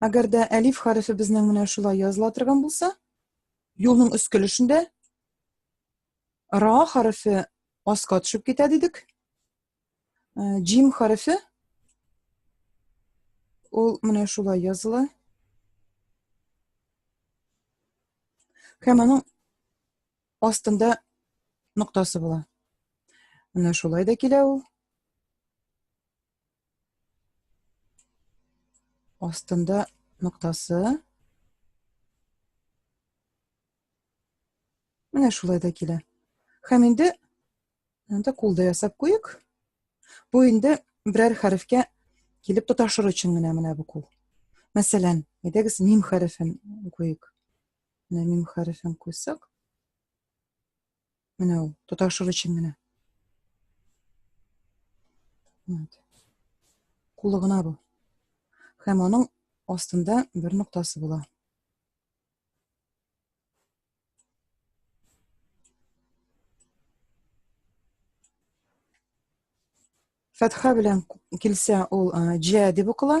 Әгәр дә әлиф хәрефе безнең менә шулай языла торган булса, юлның өст көлешендә ра хәрефе аска төшеп китә дидек. Э, Джим хәрефе ул менә шулай языла. Һәм аның астында ноктасы була. Менә шулай да килә ул. Астында ноктасы. Менә шулай да килә. Хәм инде анда кулда ясап куйык. Бу инде берәр хәрефкә килеп тоташыр өчен генә менә бу кул. Мәсәлән, әйдәгез мим хәрефен куйык. Менә мим хәрефен куйсак. Менә ул, тоташыр өчен генә. Вот. Кулы гына бу. Һәм аның астында бер ноктасы була. Фәтха белән килсә, ул җә дип укыла.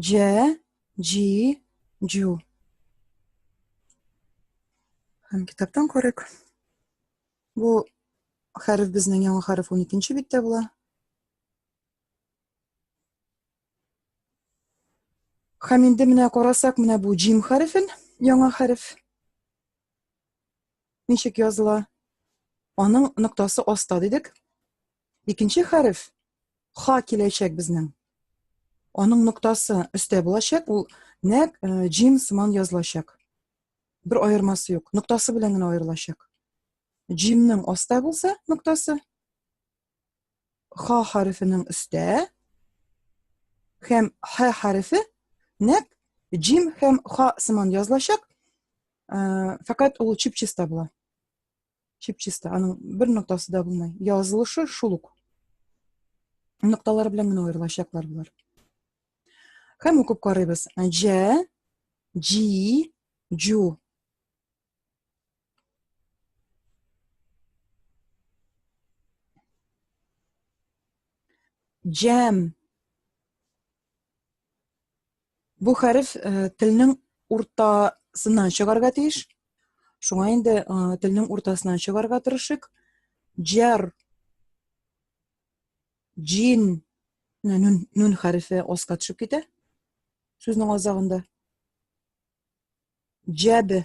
Дже, джи, джу. Һәм китаптан күрек. Бу хәреф безнең яңа хәреф 12-нче биттә була. Һәм инде менә карасак, менә бу джим хәрефен, яңа хәреф. Ничек языла? Аның ноктасы аста дидек. Икенче хәреф ха киләчәк безнең. Аның ноктасы өстә булачак, ул нәк э, джим сыман язылачак. Бер аермасы юк, ноктасы белән генә аерылачак. Джимның аста булса ноктасы, ха хәрефенең өстә һәм ха хәрефе нәк джим һәм ха сыман язылачак, э, фәкать ул чип-чиста була. чепчисто аның бер ноктасы да булмый язылышы шул ук нокталар белән генә аерылачаклар болар һәм укып карыйбыз җә җи җу җәм Бу хәреф э, телнең уртасыннан чыгарга тиеш. Шуңа инде э, телнең уртасыннан чыгарга тырышыйк. Җар. Җин. Нун, нун хәрефе аска төшеп китә. Сүзнең азагында. Җәбе.